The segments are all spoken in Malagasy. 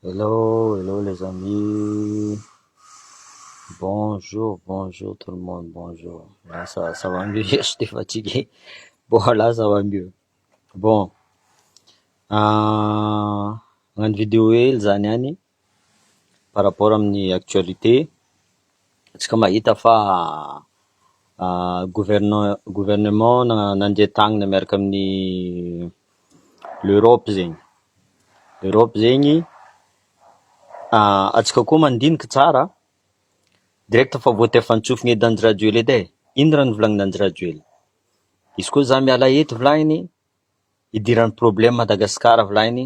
Hello hello les amis bonjour bonjour tout le monde bonjour lasa ça va mieux hier j'étais fatigué bon là ça va mieux bon hagnano video hely zah niany par rapport amin'ny actualité antsika mahita fa gouvernent- gouvernement nandia tagnana miaraka amin'ny L'Europe zegny, L'Europe zegny antsika koa mandinika tsara direct fa voatefantsofina eto Andrajoelina eto e, ino raha novolagnin' Andrajoelina, izy koa za miala eto volagny idiran'ny problème Madagascar volagny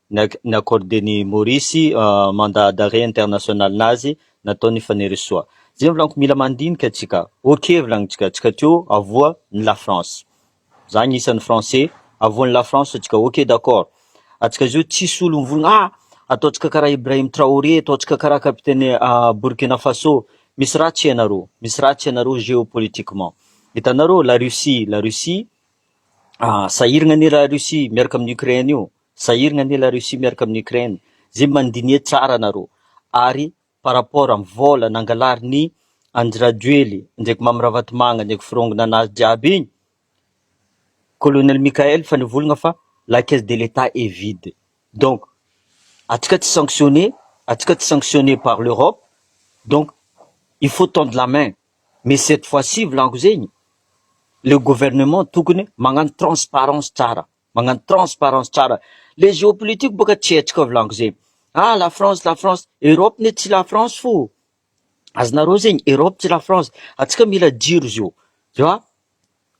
ni-accorder ny Maurice mandat d'arret international nazy nataon'i Fanirisoa. Zay no volagniky mila mandinika tsika, ok volagnintsika tsika teo avoa ny la France, za agnisan'ny français, avoa ny la France tsika ok d'accord, atsika zao tsisy olo mivolagna ah ataontsika karaha Ibrahim Traoré, ataontsika karaha capitaine Burkina Faso, misy ratsy ianareo, misy ratsy ianareo géopolitiquement, hitanareo la Russie, la Russie sahiragna anie la Russie miaraka amin'ny Ukraine io, Sahiragna anie la Russie miaraka amin'ny Ukraine, zay mandinie tsara nareo, ary par rapport am vol nangalarin'i Andry Rajoely ndraiky Mamy Ravatomanga ndraiky firongona anazy jiaby igny, Colonel Michael fa nivolagna fa la caisse de l'Etat est vide, donc atsika tsy sanctionne, atsika tsy sanctionne par l'Europe, donc il faut tendre la main, mais cette fois ci volagno zegny, le gouvernement tokony magnano transparence tsara. Magnano transparence tsara. Le geopolitique boka tsy hetsika ao volagno ze. Ah la France la France, Europe ne tsy la France fo. Azonareo zegny, Europe tsy la France. Antsika mila jiro zio. Zio a,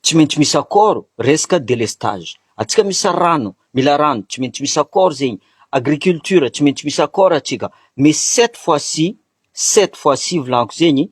tsy maintsy misy accord resaka delestage. Antsika misy rano, mila rano, tsy maintsy misy accord zegny. Agriculture, tsy maintsy misy accord antsika. Mais cette fois-ci, cette fois-ci volagno zegny,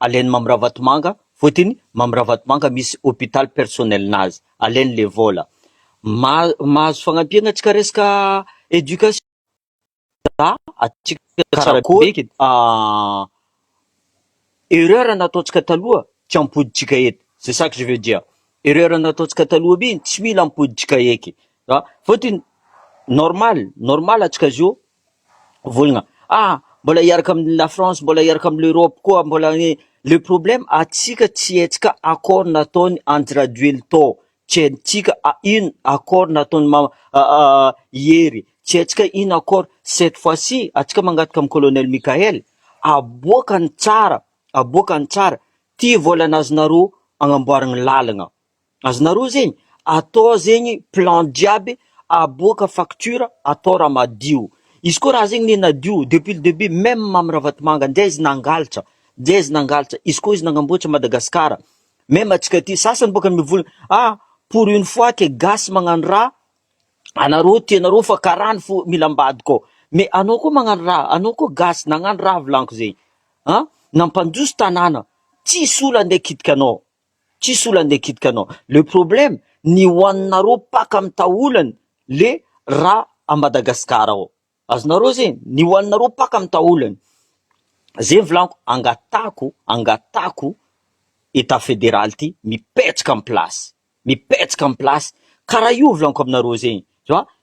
Alain'i Mamy Ravatomanga, fotiny Mamy Ravatomanga misy hôpital personnel-nazy, alainy le vôla. Mahazo fagnampiana tsika resaka éducation za atsika tsara be erreur nataontsika taloha tsy ampodintsika eto c'est ça que je veux dire erreur nataontsika taloha be tsy mila ampodintsika eky fotiny normal normal atsika zao volagna ah mbola hiaraka amin'ny la France mbola hiaraka amin'ny l'Europe koa mbola ny le problème atsika tsy hetsika accord nataony Andry Rajoelina tao tsy haintsika ino accord nataony ma- Hery tsy haintsika ino accord cette fois ci atsika mangataka amin'ny colonel Mickaël aboaka ny tsara aboaka ny tsara ty volana azonareo agnamboaragna lalagna Azonareo zegny atao zegny plan jiaby aboaka facture atao raha madio izy koa raha zegny ne nadio depuis le debut meme am ravatomanga ndray izy nangalatra ndray izy nangalatra izy koa izy nagnamboatra Madagascar meme atsika aty sasany boka mivola ah pour une fois que gasy magnano raha anareo tianareo fa karany fo mila ambadika ao mais anao koa magnano raha anao koa gasy nagnano raha volagno zegny an nampandroso tanàna tsisy olo ande kitika anao Tsisy olana ndeha kitika anao. Le problème ny ho anareo paka mitaholany le ra a Madagascar ao. Azonareo ze? Ny ho anareo paka mitaholany. Ze ny volaniko angatahako angatahako etat federal ty mipetraka am place mipetraka am place kara io volaniko aminareo zegny.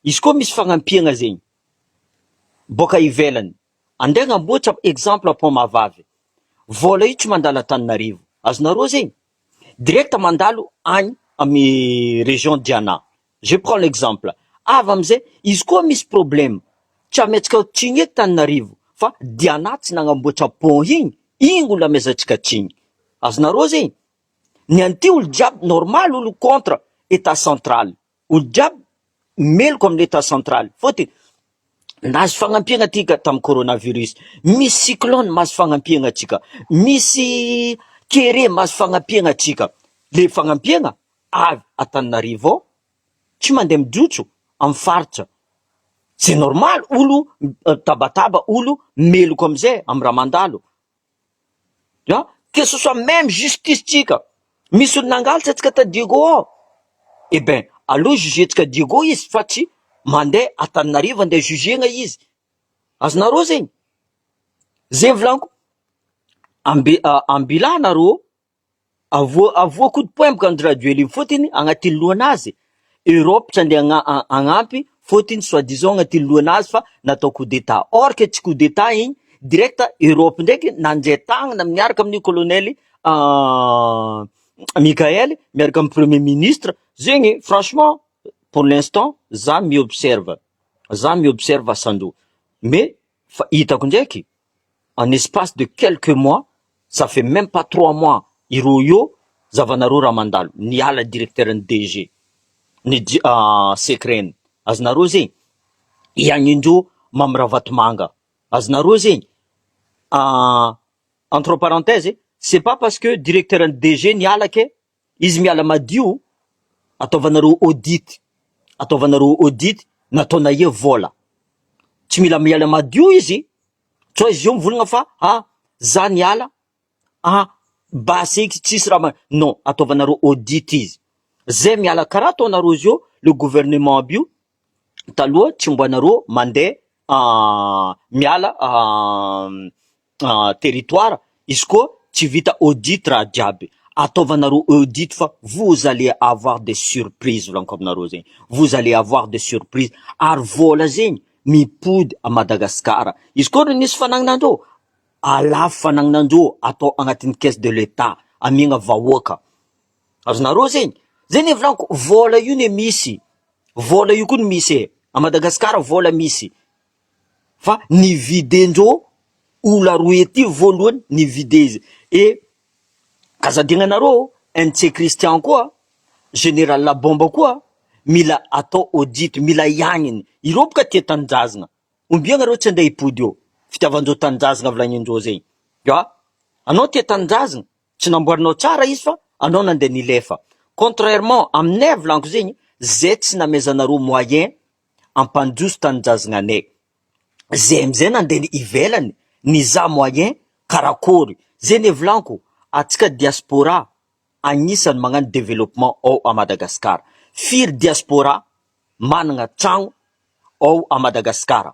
Izy koa misy fagnampiagna zegny boaka ivelany. Andeha hanamboatra exemple pont mahavavy. Vola io tsy mandalo Antananarivo. Azonareo zegny? Direct mandalo agny amy région Diana. Je prends l'exemple. Avy amizay, izy koa misy problème, tsy ametsika tsiny eto Tananarivo fa Diana tsy nagnamboatra pont igny, igny gny olo amezantsika tsiny. Azonareo zegny? Ny an'ity olo jiaby normal olo contre état central. Olo jiaby meloka amin'ny etat central fotiny nahazo fagnampiagna tika tamin'ny coronavirus, misy cyclone mahazo fagnampiagna antsika, misy kere mahazo fagnampiagna antsika, le fagnampiagna avy Antananarivo ao tsy mandeha mijotso amin'ny faritra, c'est normal olo mitabataba, olo meloka amizay amin'ny raha mandalo. An! Que ce soit même justice tsika, misy olo nangalatra antsika tany Diego ao, eh ben aleo jugentsika Diego izy fa tsy mandeha Antananarivo andeha jugena izy, azonareo zegny? Zegny volaniko, ambi- ambilà nareo. Avoa avoa coup de poing bokany Rajoelina fotiny agnatiny lohanazy Europe tsy andeha agna agnampy fotiny soit disant agnatiny lohanazy fa natao coup d'etat or que tsy coup d'etat igny direct Europe ndraiky nandray tagnana miaraka amin'io colonel Mickael miaraka amin'ny premier ministre zegny franchement pour l'instant za mi-observe za mi-observe asan-droa mais Fa hitako ndraiky en espace de quelques mois, ça fait meme pas trois mois iroio zavanareo raha mandalo, niala directeur ny DG ny secret-ny, azonareo ze? i Agnindro Mamy Ravatomanga, azonareo ze? entre parenthèses, c'est pas parce que directeur ny DG niala ke Izy miala madio ataovanareo audit ataovanareo audit nataonay eo vola tsy mila miala madio izy sao izy eo mivolagna fa a za niala a base eky tsisy raha ma- non ataovanareo audit izy zay miala karaha ataonareo zao le gouvernement aby io taloha tsy mbo anareo mandeha miala territoire izy koa tsy vita audit raha jiaby, ataovanareo audit fa vous allez avoir des surprises volagniko aminareo zegny, vous allez avoir des surprises, ary vôla zegny mipody à Madagascar, izy koa nisy fanagnanareo alafo fanagnanareo atao agnatin'ny caisse de l'etat amiagna vahoaka. Azonareo zegny? Zay ne volaniko, vôla io ne misy, vôla io koa no misy e, à Madagascar vôla misy, fa ny vide-ndreo olona roa ety voalohany ny vide izy, et aza adignanareo oh, NC Christian koa, Général Labomba koa mila atao audit, mila hiagniny, ireo boka tia tanindrazagna, ombiagna reo tsy andray hipody eo, fitiavan-dreo tanindrazagna volanin-dreo zegny, ah! Anao tia tanindrazagna. Tsy namboarinao tsara izy fa anao nandeha nilefa. Contrairement aminay avy lanko zegny zay tsy namezanareo moyen ampandroso tanindrazgnanay. Zay amizay nandeha ny ivelany nizaha moyen karakory. Zay ny hevilanko atsika diaspora agnisany magnano development ao a Madagascar. Firy diaspora managna tragno ao a Madagascar.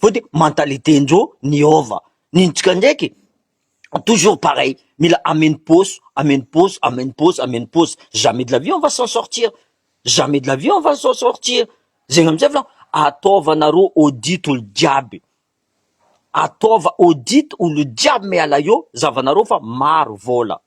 Fa de mentalité ndreo niova, nintsika ndraiky toujours pareil, mila ameno paosy, ameno paosy, ameno paosy, ameno paosy, jamais de la vie on va s'en sortir, jamais de la vie on va s'en sortir, zegny amizay volagno, ataova nareo audit olo jiaby, ataova audit olo jiaby miala eo, zahavanareo fa maro vola.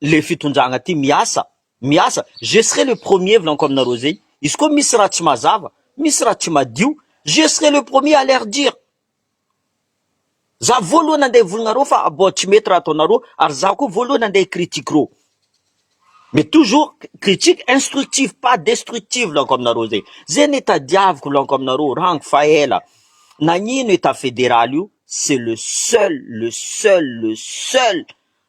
le fitondragna ty miasa miasa je serai le premier vlaniko aminareo zay izy koa misy raha tsy mazava misy raha tsy madio je serai le premier à leur dire za voalohany andeha hivolignareo fa abao tsy mety raha ataonareo ary za koa voalohany andeha hicritique reo mais toujours critique instructive pas destructive vlaniko aminareo zay zay ne tadiaviko vlaniko aminareo rango fa ela nagnino état fédéral io c'est le seul le seul le seul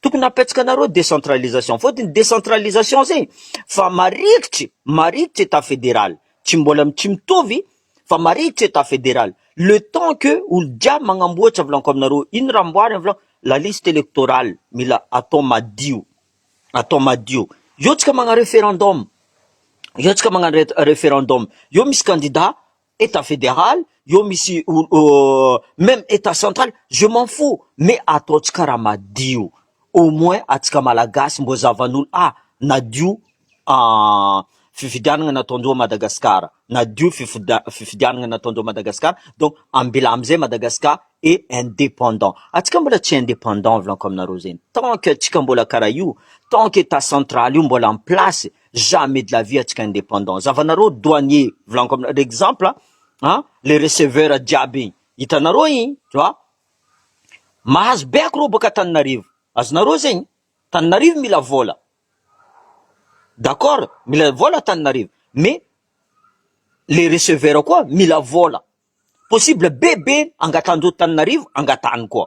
Tokony apetsakanareo décentralisation fôtiny décentralisation zegny fa marikitry marikitry état fédéral tsy mbôla tsy mitovy fa marikitry état fédéral le temps que olo jiaby magnamboatra vôlako aminareo ino raha amboarigny vôlako la liste électorale mila atao madio atao madio eo tsika magna referendum eo tsika magnano referendum eo misy candidat Etat federal eo misy même etat central je m'en fous mais ataontsika raha madio au moins atsika malagasy mbô zavan'olo ah nadio fifidianana nataondreo Madagascar nadio fifidianana nataondreo Madagascar donc ambela amzay Madagascar et indépendant atsika mbola tsy indépendant volanko aminareo zegny tant que atsika mbola karaha io tant que etat central io mbola en place jamais de la vie atsika independant zavanareo douanier volaniko aminareo exemple a le receveur jiaby igny hitanareo igny tu vois mahazo be akoreo boka Antananarivo azonareo zegny Antananarivo mila vola d'accord mila vola Antananarivo mais le receveur koa mila vola possible be be angatahan'ireo Antananarivo angatahany koa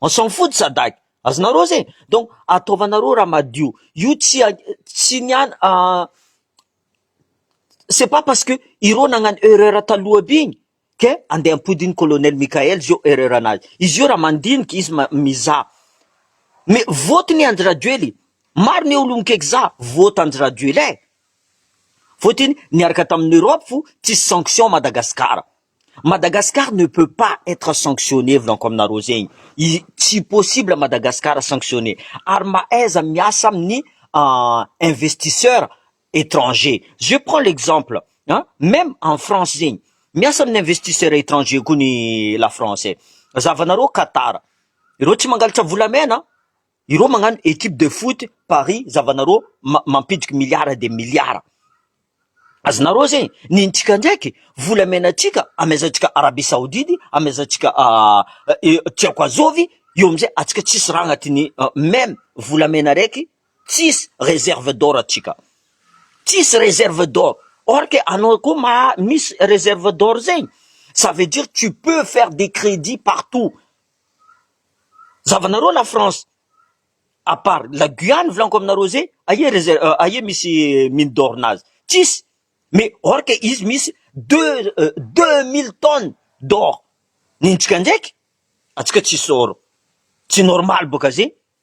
On s'en fout de Sadc, azonareo zay e! donc ataovanareo raha madio, io tsy tsy ny an c'est pas parce que ireo nagnano erreur taloha aby iny que andeha hampody iny colonel Mickaël zio erreur nazy, izy io raha mandinika izy mizaha, mais vote ny Andry Rajoely, maro ny olon-ke kizaha vote Andry Rajoelin, vote iny niaraka tamin'i Europe fo tsisy sanction Madagascar. Madagascar ne peut pas etre sanctionne volanko aminareo zegny i tsy possible Madagascar sanctionne ary mahaiza miasa amin'ny investisseur etranger je prends l'exemple an meme en France zegny miasa amin'ny investisseur etranger koa ny la France e, zahavanareo Qatar ireo tsy mangalatra volamena an. Ireo magnano equipe de foot paris zavanareo mampidiko milliard de milliard azonareo zegny ny antsika ndraiky volamena antsika amezantsika arabie saodide amezantsika tiako azovy eo amizay atsika tsisy raha agnatiny meme volamena raiky tsisy reserve d'or atsika tsisy reserve d'or or ke anao koa maha misy reserve d'or zegny ça veut dire tu peux faire des credits partout Zavanareo la France à part la Guyane volaniko aminareo zay aia reserve aia misy mine d'or nazy tsisy mais or que izy misy deux deux mille tonnes d'or nentsika ndraiky atsika tsisy or tsy normal boka zay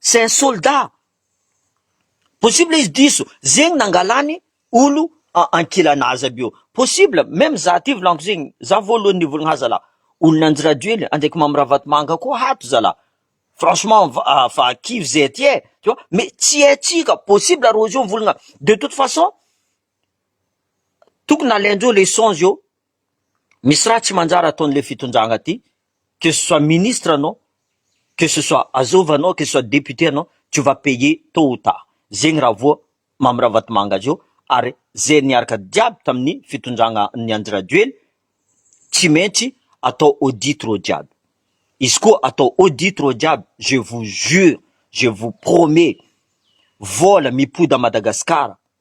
c'est un soldat, possible izy diso zegny nangalany olo ankilana azy aby io, possible, meme za aty volaniko zegny, za voalohany nivolagna zalah, olona anjirajoely andraiky mamy ravatomanga koa hato zalah, franchement fa kivy zay aty e, tu vois, mais tsy haintsika, possible rozy io mivolagna, de toute façon tokony alaindreo leçon zio. Misy raha tsy manjary ataon'le fitondragna ty, que ce soit ministre anao, que ce soit azova anao, que ce soit député anao, tu vas payer tot ou tard, zegny raha voa Mamy Ravatomanga azy eo, ary ze niaraka jiaby tamin'ny fitondragna an'i Andry Rajoely, tsy maintsy atao audit reo jiaby, izy koa atao audit reo jiaby, je vous jure, je vous promets, vola mipody à Madagascar,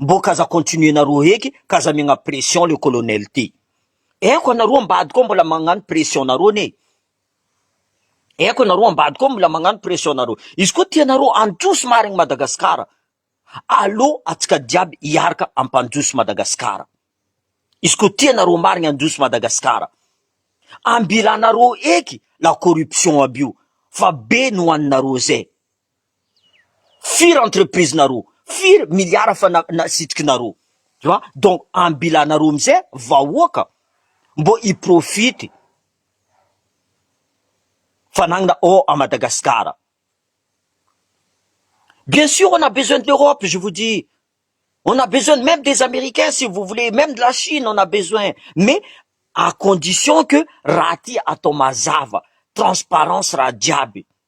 Mbô k'aza continuer-nareo heky k'aza megna pression le colonel ty. Eko anareo ambadika ao mbola magnano pression-nareo anie. Eko anareo ambadika ao mbola magnano pression-nareo. Izy koa tianareo handroso marigny Madagasikara, aleo atsika jiaby hiaraka hampandroso Madagasikara. Izy koa tianareo marigny handroso Madagasikara, ambilanareo heky la corruption aby io fa be nohaninareo zay. Firy entreprise nareo? Firy milliard efa nasitriky nareo? Tu vois? Donc ambilanareo amizay vahoaka mbô hi profite fanagnana ao à Madagascar. Bien sur on a besoin de l'Europe je vous dis, on a besoin même des Américains si vous voulez, même de la Chine on a besoin mais à condition que raha ty atao mazava, transparence raha jiaby.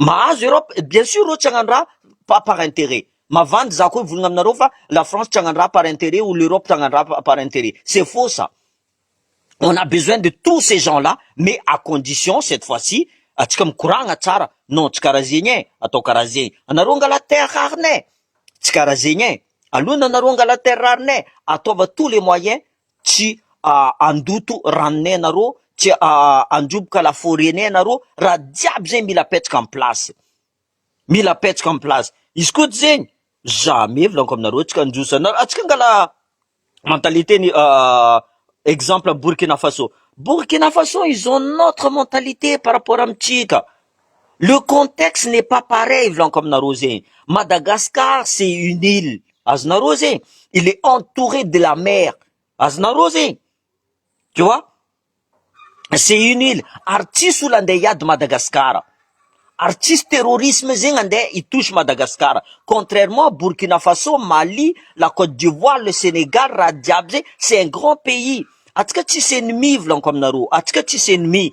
Mahazo Europe eh bien sur reo tsy hagnandraha fa par interet, mavandy za ko hivolagna aminareo fa la France tsy hagnandraha par interet ou l'Europe tsy hagnandraha par interet, c'est faux ça, on a besoin de tous ces gens là mais à condition cette fois ci atsika mikoragna tsara, non tsy karaha zegny eh, atao karaha zegny, anareo angala terre rareneh, tsy karaha zegny eh, alona anareo angala terre rareneh, ataova tous les moyens Tsy handoto ranonay ianareo, tsy handroboka la foret-nay ianareo raha jiaby zegny mila apetraka en place, mila apetraka en place, izy koa tsy zegny za mihevilanko aminareo tsy handroso anareo, atsika angala mentalité ny exemple Burkina Faso, Burkina Faso ils ont notre mentalité par rapport amintsika, Le contexte n'est pas pareil volaniko aminareo zegny, Madagascar c'est une île azonareo zegny, il est entouré de la mer azonareo zegny, tu vois c'est une île ary tsisy olo ande hiady Madagascar, ary tsisy terrorisme zegny ande hi touche Madagascar, contrairement Burkina Faso, Mali, la Cote d'Ivoire, le Senegal, raha jiaby zay c'est un grand pays, antsika tsisy ennemi volaniko aminareo, antsika tsisy ennemi,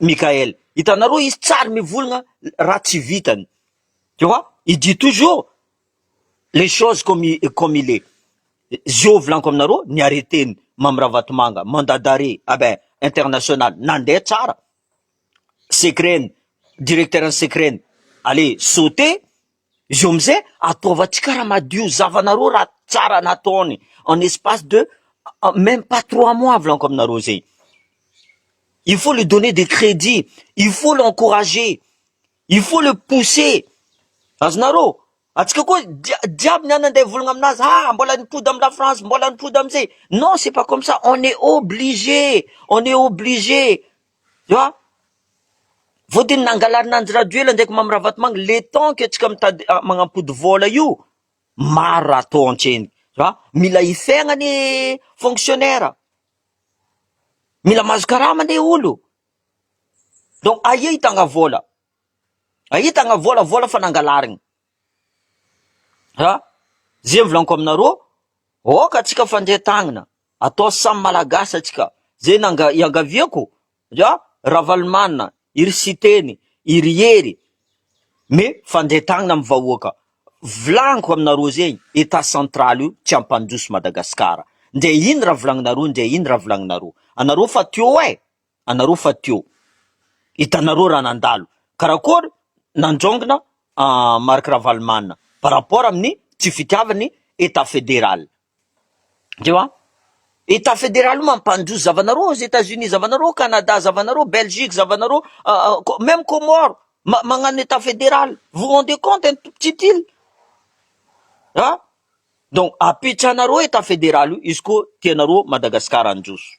Mickaël. Hitanareo izy tsy ary mivolagna raha tsy vitany. Tu vois? Il dit toujours les choses comme il, comme il est. Zio volaniko aminareo, ny arrêté-ny Mamy Ravatomanga, mandat d'arrêt, ah ben, international, nandeha tsara. Secret-ny, directeur-n'ny secret-ny, allez, sauter. Izy eo amizay ataovantsika raha madio zavana roa raha tsara nataony en espace de meme pas trois mois volaniko aminareo zay. Il faut le donner des crédits, il faut l'encourager, il faut le pousser, azonareo? Antsika koa dia diabo ny any andeha hivolagna aminazy ah mbola nipody am la France, mbola nipody amizay, non c'est pas comme ça, on est obligé, on est obligé. An! Vodiny nangalarina an'i Rajoel ndraiky Mamy Ravatomanga, le temps que tsika mitady manampody vola io, maro raha atao antsena e! Mila hifehagna anie fonctionnaire, mila mahazo karama anie olo, donc aia hitanga vola? Aia hitanga vola, vola fa nangalarigny. Raha izay volaniko aminareo, aoka antsika fandray tagnana, atao samy malagasy antsika, izay nanga- iangaviako dia Ravalomanana, i ry Siteny, i ry Hery, mais fandray tagnana amin'ny vahoaka, volaniko aminareo izay, Etat central io tsy hampandroso Madagasikara, ndre ino raha volagninareo, ndre ino raha volagninareo, anareo fa teo eh! anareo fa teo hitanareo raha nandalo karakory nandraongina Marc Ravalomanana par rapport amin'ny tsy fitiavan'ny Etat Fédéral. Ndreo an! Etat Fédéral io mampandroso zavanareo aux Etats-Unis zavanareo, Canada zavanareo, Belgique zavanareo, même Comores magnano Etat Fédéral, vous rendez compte un tout petit île an! Donc apetrahanareo Etat Fédéral io izy koa tianareo Madagascar handroso.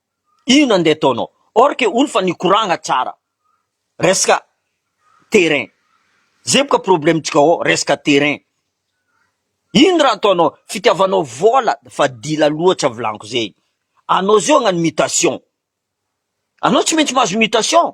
Inona ndeha ataonao? Or que olo fa nikoragna tsara resaka terrain. Zay boka problemtsika ao resaka terrain. Ino raha ataonao? Fitiavanao vola fa dila loatra volaniko zay. Anao zao agnano mutation. Anao tsy maintsy mahazo mutation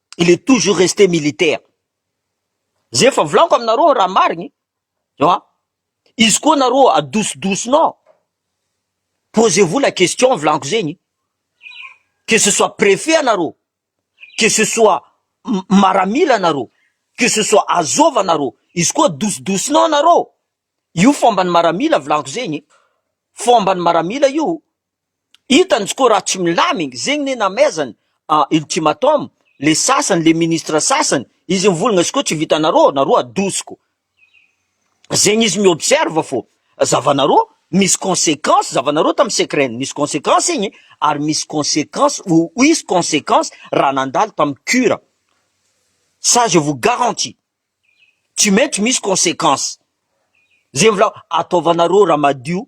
il est toujours reste militaire, zay efa volako aminareo raha marigny ewa, izy koa nareo adosodosonao, posez vous la question volako zegny, que ce soit prefet anareo, que ce soit maramila anareo, que ce soit azov anareo, izy koa adosodosonao nareo, io fomban'ny maramila volako zegny, fomban'ny maramila io, Hitany koa raha tsy milamigny zegny ne namaizany an ultimatum le sasany le ministre sasany izy mivolagna izy koa tsy vitanarô narô adosiko zegny izy mi-observe fô zavanarô misy consequence zavanarô tam secret misy consequence igny ary misy consequence ou uisy consequence raha nandalo tam cur ça je vous garantie tsy maintsy misy consequence zegny volako ataovanarô raha madio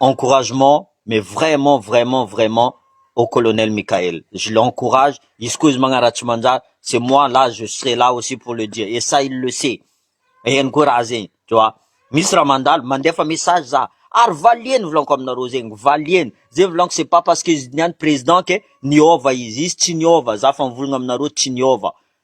encouragement mais vraiment vraiment vraiment au colonel Mickaël je l'encourage izy koa izy magnaratsy manjary c'est moi là je serai là aussi pour le dire et ça il le sait hainy koa raha zegny tu vois misy raha mandalo mandefa message za ary valiany ny volaniko aminareo zegny valiany zay volaniko c'est pas parce que izy niany président que niova izy izy tsy niova za fa mivolagna aminareo tsy niova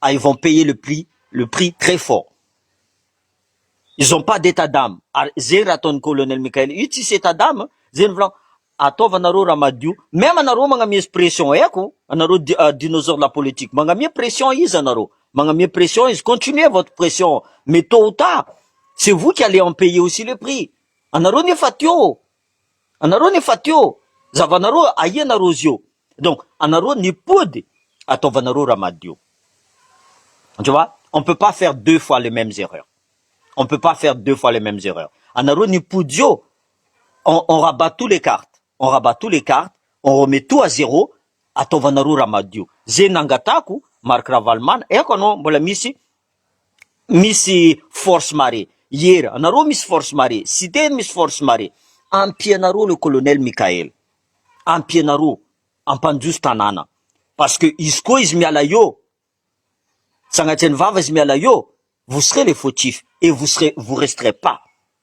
ah ils vont payer le prix le prix très fort ils ont pas d'état d'ame ary zegny raha ataon'i colonel Mickaël io tsisy état d'ame zegny volagno ataova nareo raha madio même anareo magnamiezo pression haiko anareo dinosaure la politique magnamia pression izy anareo magnamia pression izy continuer votre pression mais tot ou tard c'est vous qui allez en payer aussi le prix anareo nefa teo Anareo ny fatio zavanareo aia nareo zio donc anareo ny pody ataovanareo raha madio tu vois on peut pas faire deux fois les memes erreurs on peut pas faire deux fois les memes erreurs anareo ny pody zio on on rabat tout les cartes on rabat tout les cartes on remet tout à zero ataovanareo raha madio ze nangatahako Marc Ravalomanana eko anao mbola misy misy force marée hier anareo misy force marée siteny misy force marée ampianareo le colonel Mickael ampianareo ampandroso tanàna parce que izy koa izy miala eo sanatria ny vava izy miala eo vous serez les fautifs et vous serez vous resterez pas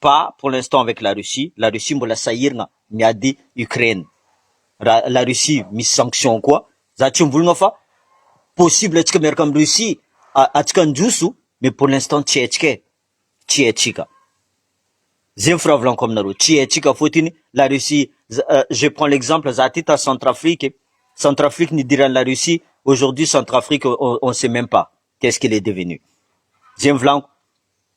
pas pour l'instant avec la Russie, la Russie mbola sahirana miady Ukraine, raha la Russie misy sanction koa, za tsy mbolina fa possible atsika miaraka am Russie a, atsika handroso mais pour l'instant tsy haintsika e, tsy haintsika, zay ny firavolako aminareo, tsy haintsika fotiny la Russie, je prends l'exemple za aty ta Centrafrique, Centrafrique nidiran la Russie, aujourd'hui Centrafrique on on sait meme pas qu'est ce qu'il est devenu, zay ny volako.